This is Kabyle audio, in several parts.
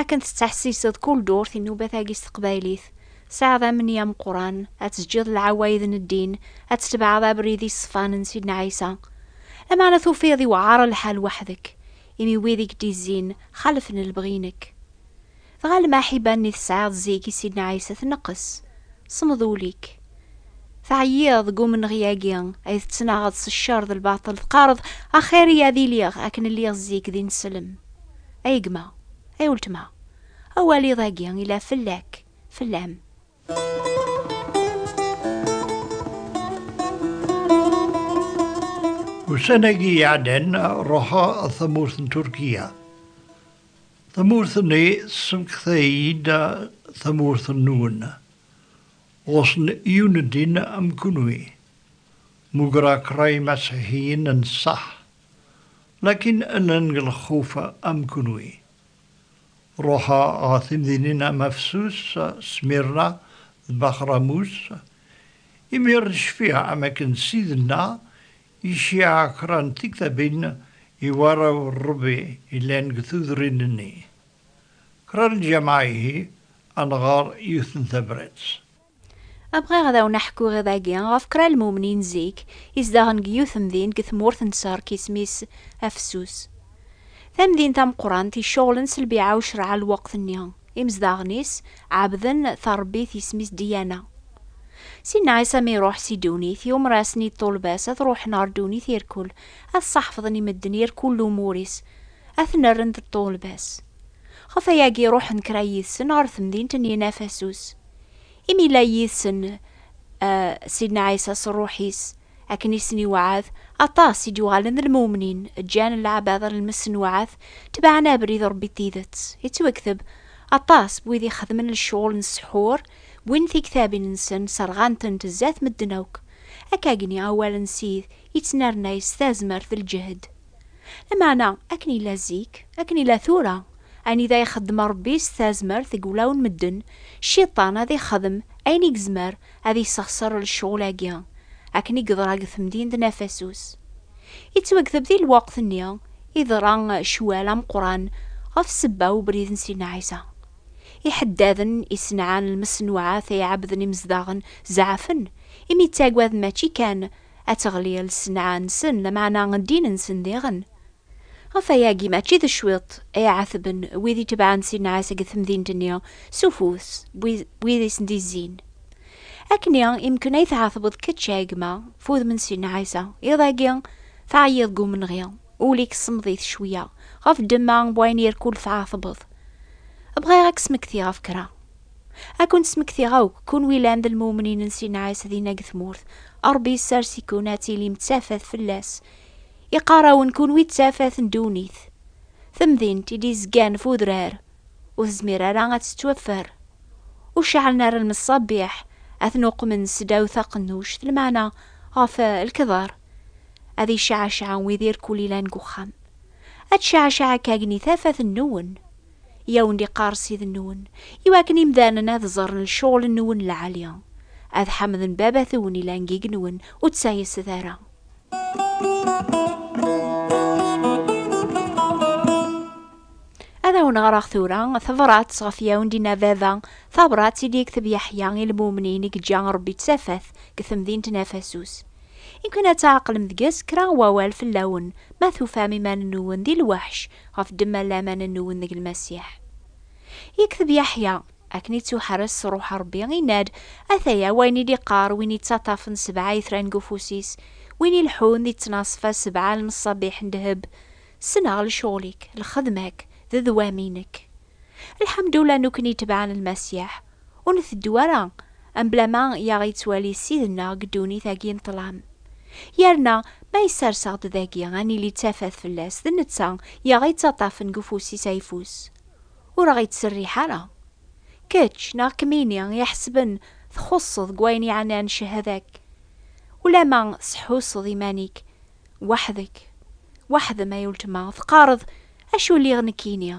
Akken tettḥessiseḍ kul durt inubat-agi s teqbaylit, tesɛiḍ amenni ameqqran ad teǧǧiḍ lɛewayed n ddin, ad tetbeɛeḍ abrid iṣefan n Sidna Ɛisa. Lameɛna tufiḍ iwɛer lḥal weḥdek, imi wid i k-d-izzin xalfen lebɣi-inek. Dɣa lmaḥiba-nni tesɛiḍ zik i Sidna Ɛisa tneqqes, semmeḍ ul-ik, Teɛyiḍ deg umenɣi-agi ay tettnaɣeḍ s ccer d lbaṭel, teqqareḍ, Axir-iyi ad iliɣ akken lliɣ zik d ineslem. Ay gma, ay weltma, awal iḍ-agi yella fell-ak, fell-am. Ussan-agi iɛeddan, ruḥeɣ ɣer tamurt n Turkiya. Tamurt-nni tessemekta-iyi-d tamurt-nwen. Ɣur-sen yiwen n ddin am kunwi, mugra kra imasiḥiyen n ṣṣeḥ, lakin llan deg lxuf am kunwi. Ruḥa ɣer timdinin am Afsus, Smirna d Baxramus, imir n ccfiɛ am akken Sidna iciɛa kra n tiktabin i warraw n Rebbi yellan deg tudrin-nni. Kra n lǧamaɛ ihi ad nɣer yiwet n tabrat. Bɣiɣ ad awen-aḥkuɣ iḍ-agi ɣef kra n lmumnin zik izdaɣen deg yiwet temdint deg tmurt n Ṣerk isem-is Afessus. Tamdint tameqqrant iceɣlen s lbiɛa u creɛ n lweqt-nni. Imezdaɣen-is ɛebden tarebbit isem-is Diana. Sinna Ɛisa mi iruḥ si ddunit, yumer-asen-id Ṭulbas ad ruḥen ɣer ddunit irkul, ad ṣaḥfḍen i medden irkul lumuṛ-is. ad ten-rren d ṭṭulbas. Ɣef ayagi ruḥen kra yid-sen ɣer temdint n Yinafasus. Imi yella yid-sen eh, Sidna Ɛisa s ṛṛuḥ-is, akken i sen-iweɛɛed, aṭas i d-yuɣalen d lmumnin, ǧǧan lɛebɛḍa n lmesnuɛat, tebɛen abrid n Ṛebbi n tidet. Yettwekteb, Aṭas n wid ixedmen lecɣal n ssḥur, wwin tiktabin-nsen, serɣan-tent zdat medden akk. Akkagni, awal n Sid yettnernay s tazmert d lǧehd. Lameɛna, akken yella zik, akken yella tura, ayen i d ay-ixeddem Rebbi s tazmert deg wulawen n medden, Cciṭan ad ixdem ayen i yezmer ad yessexṣer lecɣul-agi, akken i yeḍra deg temdint n Afasus. Yettwagteb di lweqt-nni iḍra ccwal ameqqran ɣef ssebba n ubrid n Sidna Ɛisa. Iḥeddaden isenɛan lmeṣnuɛat ay ɛebbden imezdaɣen zeɛfen, imi ttaggaden mačči kan ad teɣli lsenɛa-nsen, lameɛna ddin-nsen diɣen. Ɣef wayagi, mačči d cwiṭ i ɛetben wid itebɛen ssenɛa seg temdint-nni s ufus n wid i sen-d-izzin. Akkenni i mken ay tɛetbeḍ kečč a gma, f udem n ssenɛa ass-a, iḍ-agi teɛyiḍ deg umenɣi, ul-ik semmeḍ-it cwiya ɣef ddemma n wayen irkul tɛetbeḍ. Bɣiɣ ad k-smektiɣ ɣef kra. Ad ken-smektiɣ akk, kunwi llan d lmumnin n Si Nɛas dinna deg tmurt. Ṛebbi yessers-iken ad tilim d tafat fell-as. Iqqar-awen kunwi d tafat n ddunit. Temdint i d-izgan f udrar, ur tezmir ara ad tettwaffer. Ur ceɛlen ara lmeṣṣabiḥ, ad ten-uqmen seddaw taqennuct, lmeɛna ɣef lkedar. Ad iceɛceɛ wid irkul ilan deg uxxam. Ad tceɛceɛ akk agni tafat-nwen. i awen-d-iqqar Ssid-nwen, i wakken imdanen ad ẓren lecɣel-nwen lɛali, ad ḥamden Baba-twen ilan gig-nwen, ur ttayset ara. Ad awen-ɣreɣ tura tabrat ɣef i awen-d-inna Baba, tabrat i d-yekteb Yeḥya i lmumnin i yeǧǧa Rebbi d tafat deg temdint n Afasus. I wakken ad tɛeqlem deg-s kra n wawal fell-awen, ma tufam iman-nwen di lweḥc, ɣef ddemma n laman n uwenneg n Lmasiḥ. Yekteb Yaḥya, Akken i ttuḥerres s Ṛṛuḥ n Ṛebbi, inna-d, Ataya, wayen i d-iqqar win yettaṭṭafen sebɛa itran deg ufus-is, win ileḥḥun di ttnaṣfa sebɛa n lmeṣṣabiḥ n ddheb, Ssneɣ lecɣal-ik, lxedma-k, d ddwam-inek. Lḥemdullah nukni tebɛen Lmasiḥ, ur nteddu ara mebla ma i aɣ-yettwali Ssid-nneɣ deg ddunit-agi n ṭṭlam. Yerna ma yessers-aɣ-d dagi ad nili d tafat fell-as, d netta i aɣ-yettaṭṭafen deg ufus-is ayeffus, ur aɣ-yettserriḥ ara. Kečč neɣ kemmini i iḥesben txuṣṣeḍ deg wayen yeɛnan cehada-k, ulamma tseḥḥuseḍ iman-ik Weḥd-k, weḥd-m ay uletma, teqqareḍ, Acu lliɣ nekkini?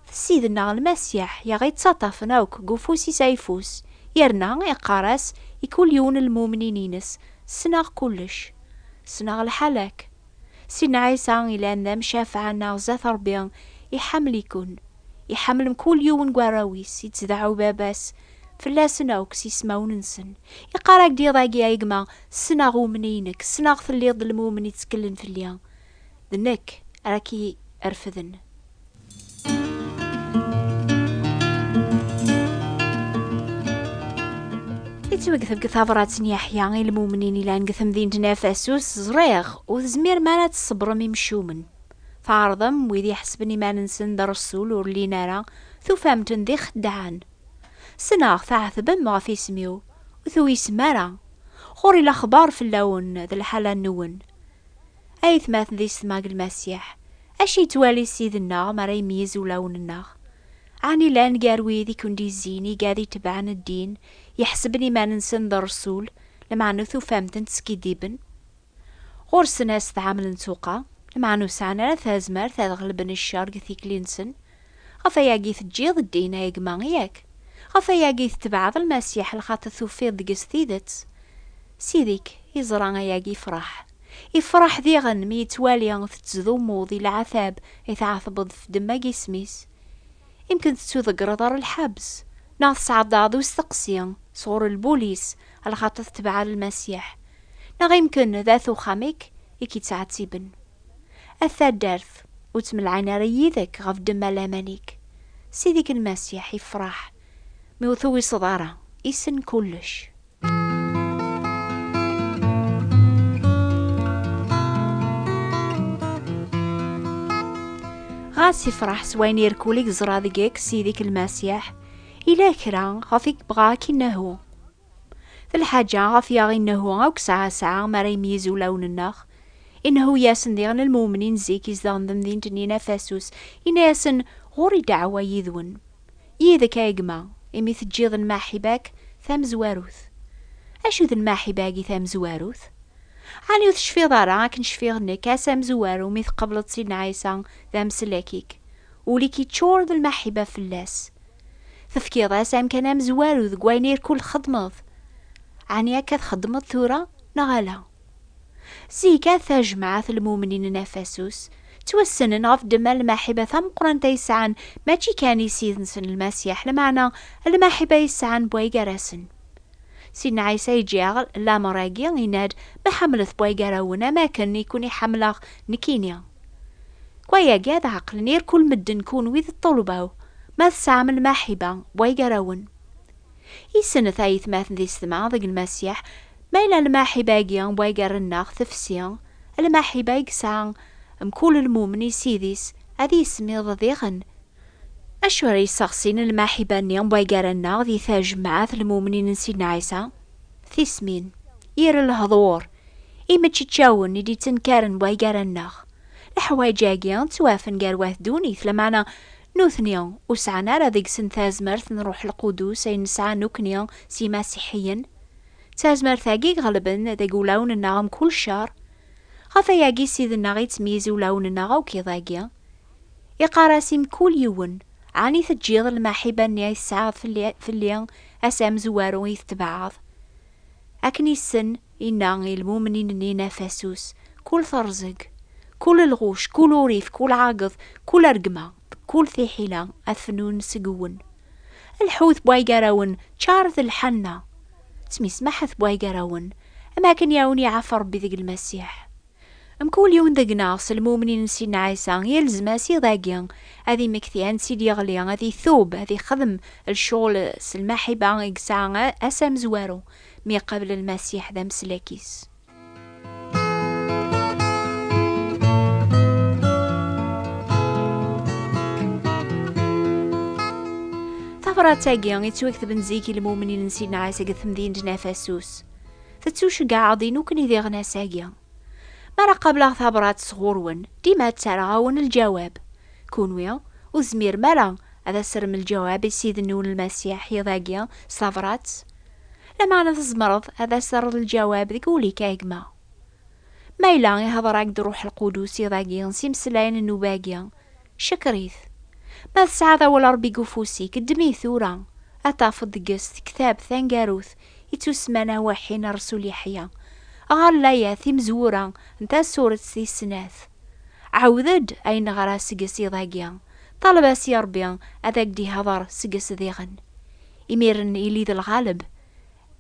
D Ssid-nneɣ Lmasiḥ i aɣ-ittaṭṭafen akk deg ufus-is ayeffus, yerna iqqar-as i kul yiwen n lmumnin-ines, Ssneɣ kullec. Ssneɣ lḥal-ak. Sidna Ɛisa yellan d amcafeɛ-nneɣ zdat Ṛebbi, iḥemmel-iken. Iḥemmel mkul yiwen deg warraw-is, ittdeɛɛu Baba-s fell-asen akk s ismawen-nsen. Iqqar-ak-d iḍ-agi a gma, Ssneɣ umni-inek, ssneɣ telliḍ d lmumen itteklen fell-i, d nekk ara k-irefden. Yettwagteb deg tabrat n Yeḥya i lmumnin ilan deg temdint n Efesus, ẓriɣ, ur tezmirem ara ad tṣebrem imcumen. Tɛerḍem wid iḥesben iman-nsen d rresul ur llin ara, tufam-ten d ixeddaɛen. Ssneɣ tɛetbem ɣef isem-iw. ur tuysem ara, ɣur-i lexbar fell-awen d lḥala-nwen. A yetmaten di setma deg Lmasiḥ, acu yettwali Ssid-nneɣ mi ara imeyyez ulawen-nneɣ? Ɛni llan gar wid i ken-d-yezzin igad itebɛen ddin, yeḥseben iman-nsen d rresul, lmeɛna ur tufam-ten teskiddiben? Ɣur-sen ad s-tɛamlen tuqqa, lmeɛna ur sɛan ara tazmert ad ɣelben ccer deg tikli-nsen, Ɣef wayagi i teǧǧiḍ ddin a gma, yak? Ɣef wayagi i tetbeɛeḍ Lmasiḥ lxaṭi tufiḍ deg-s tidet? Ssid-ik iẓra ayagi ifraḥ. Ifraḥ diɣen mi yettwali tettdumuḍ i leɛtab i tɛatbeḍ ɣef ddemma n yisem-is. Imken tettuḍeggreḍ ɣer lḥebs, neɣ tesɛeddaḍ i usteqsi sɣur lbulis lxaṭi tetbeɛeḍ Lmasiḥ, neɣ imken d at uxxam-ik i k-yettɛettiben. A taddart, ur ttmelɛin ara yid-k ɣef ddemma n laman-ik. Ssid-ik Lmasiḥ yefreḥ mi ur tuwiseḍ ara, issen kullec. Ɣas yefreḥ s wayen irkul i yeẓra deg-k Ssid-ik Lmasiḥ, yella kra ɣef i yebɣa ad k-innehu. D lḥaǧa ɣef yaɣ Innehu akk sɛa-sɛa mi ara imeyyez ulawen-nneɣ. Innehu yasen diɣen lmumnin zik izdeɣen temdint-nni n Afasus, inna-yasen, Ɣur-i ddeɛwa yid-wen. Yid-k, ay gma, imi teǧǧiḍ lmaḥiba-k tamezwarut. Acu d lmaḥiba-agi tamezwarut? Ɛni ur tecfiḍ ara akken cfiɣ nekk ass amezwaru mi tqableḍ Sidna Ɛisa d amsellek-ik, ul-ik yeččur d lmaḥiba fell-as? Tefkiḍ-as amkan amezwaru deg wayen ay kul txeddmeḍ. Ɛni akka txeddmeḍ tura, neɣ ala? Zik, at tajmaɛt n lmumnin n Afasus ttwassnen ɣef ddemma n lmaḥiba tameqrant ay sɛan mačči kan i Ssid-nsen Lmasiḥ, lmeɛna lmaḥiba ay sɛan bway gar-asen. Sidna Ɛisa iǧǧa-aɣ lameṛ-agi, yenna-d, Ma ḥemmlet bway gar-awen, am wakken i ken-i-ḥemmleɣ nekkini. Wayagi ad ɛeqlen irkul medden kunwi d ṭṭulbaw, ma tesɛam lmaḥiba, way gar-awen. Issennet ayetmaten di setma deg Lmasiḥ, ma yella lmaḥiba-agi way gar-nneɣ tefsi, lmaḥiba i yesɛa mkul lmumen i Ssid-is ad yismiḍ diɣen, acu ara yesseɣsin lmaḥiba-nni way gar-nneɣ di tajmaɛt lmumnin n Sidna Ɛisa? Tismin. Yir lehḍur. Imeččeččawen i d-ittenkaren way gar-aneɣ. Leḥwayeǧ-agi ttwafen gar wat ddunit, lameɛna nutni ur sɛan ara deg-sen tazmert n Ṛṛuḥ Lqudus ayen nesɛa nekkni s yimasiḥiyen. D tazmert-agi iɣelben deg ulawen-nneɣ mkul ccer. Ɣef wayagi Ssid-nneɣ ittmeyyiz ulawen-nneɣ akk iḍ-agi. Iqqar-as i mkul yiwen, Ɛni teǧǧiḍ lmaḥiba-nni i tesɛiḍ fell-i, ass amezwaru i yi-tetbeɛɛeḍ? Akken issen, inna i lmumnin-nni n Afasus, Kul terẓeg, kul lɣuc, kul urif, kul ɛageḍ, kul rregma, kul tiḥila ad fnun seg-wen. Lḥut bwaygarawen, ččaret lḥanna. Ttmismaḥet bwaygarawen, am akken i awen-iɛaf Ṛebbi deg Lmasiḥ. Mkul yiwen deg-neɣ s lmumnin n Sidna Ɛisa, yelzem-as iḍ-agi ad imekti ansi d-yeɣli, ad itub, ad ixdem lecɣel s lmaḥiba i yesɛa ass amezwaru mi iqabel Lmasiḥ d ameslak-is. Tabrat-agi yettwaktben zik i lmumnin n Sidna Ɛisa deg temdint n Afasus. Tettuceggaɛeḍ i nukni d iɣnas-agi. Mi ara qableɣ tabrat sɣur-wen, dima ttarraɣ-awen lǧawab. Kunwi, ur tezmirem ara ad as-terrem lǧawab i Ssid-nwen Lmasiḥ yiḍ-agi s tabrat? Lameɛna tzemreḍ ad as-terreḍ lǧawab deg wul-ik a gma. Ma yella ihdeṛ-ak-d Ṛṛuḥ Lqudus iḍ-agi s imeslayen n nnuba-agi, cekker-it. Ma tesɛiḍ awal n Ṛebbi deg ufus-ik, ddem-it tura, ad tafeḍ deg-s tektabt taneggarut I tusmana waḥi n Rsul Yeḥya, ɣer layat timezwura n tasuret tis snat, Ɛawed-d ay neɣra seg-s iḍ-agi, ṭaleb-as i Ṛebbi ad ak-d-iḥḍer seg-s diɣen. Imiren ili d lɣaleb,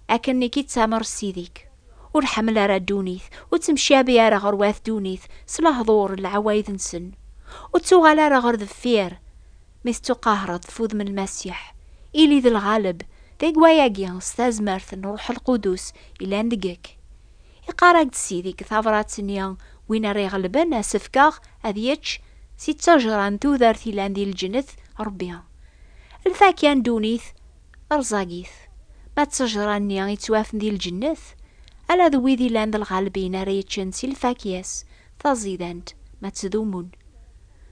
akken i k-ittamer Ssid-ik. Ur ḥemmel ara ddunit, ur ttemcabi ara ɣer wat ddunit s lehḍur n lɛawayd-nsen. Ur ttuɣal ara ɣer deffir mi tettuqahreḍ tfudem Lmasiḥ, ili d lɣaleb deg wayagi s tazmert n Ṛṛuḥ Lqudus yellan deg-k. Iqqar-ak-d Sidi deg tabṛat-nni, Win ara iɣelben ad s-fkeɣ ad yečč si ttejṛa n tudert yellan di lǧennet, Ṛebbi. Lfakya n ddunit rẓagit, ma d ttejṛa-nni yettwafen di lǧennet, ala d wid yellan d lɣalbin ara yeččen si lfakya-s taẓidant, ma ttdumun.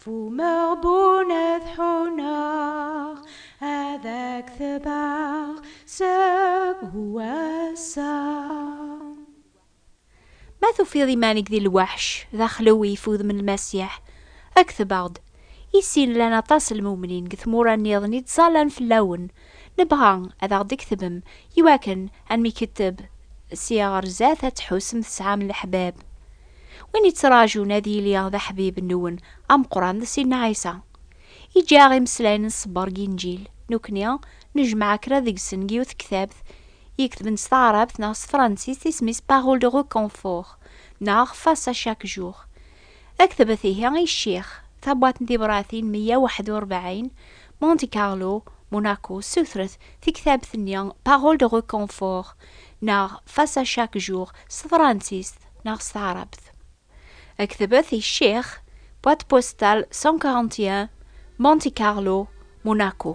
Fumeɣ bun ad ḥuneɣ ad ak-tebɛeɣ seg wass-a. Ma tufiḍ iman-ik di lweḥc, d axlew i ifudem n Lmasiḥ, kteb-aɣ-d. I sin llan aṭas n lmumnin deg tmura nniḍen i ttẓallan fell-awen. Nebɣa ad aɣ-d-ktbem iwakken ad nmiketteb ssya ɣer zdat ad tḥussem tesɛam leḥbab. Win yettraǧun ad yili d aḥbib nwen ameqqran d Sidna Ɛisa. Iǧǧa-aɣ imeslayen n ṣṣber deg Inǧil. Nekkni nejmeɛ kra deg-sen deg yiwet tektabt yeketben s taɛrabt neɣ s tefransist isem-is Paroles de reconfort neɣ Face à chaque jour. D aketbet ihi i ccix, tabwaṭ n tibṛatin meyya u ḥedd u rebɛin, Monte Carlo, Monaco, ssutret tiktabt-nni Paroles de reconfort neɣ Face à chaque jour s tefransist. neɣ s taɛrabt. Ad k-tebet i ccix, boîte postale 141, Monte Carlo, Monaco.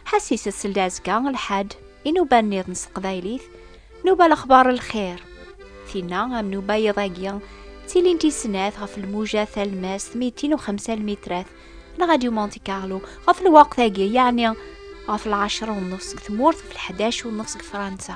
Ḥasis ad seld azekka lḥad i nuba nniḍen s teqbaylit, nuba lexbar lxir. Tinna am nuba yiḍ-agi ttilint i snat ɣef lmuja talmast 250 mitrat n Radio Monte Carlo ɣef lweqt-agi, yeɛni ɣef lɛecra u nnus deg tmurt, ɣef lḥdac u nnus deg Fransa.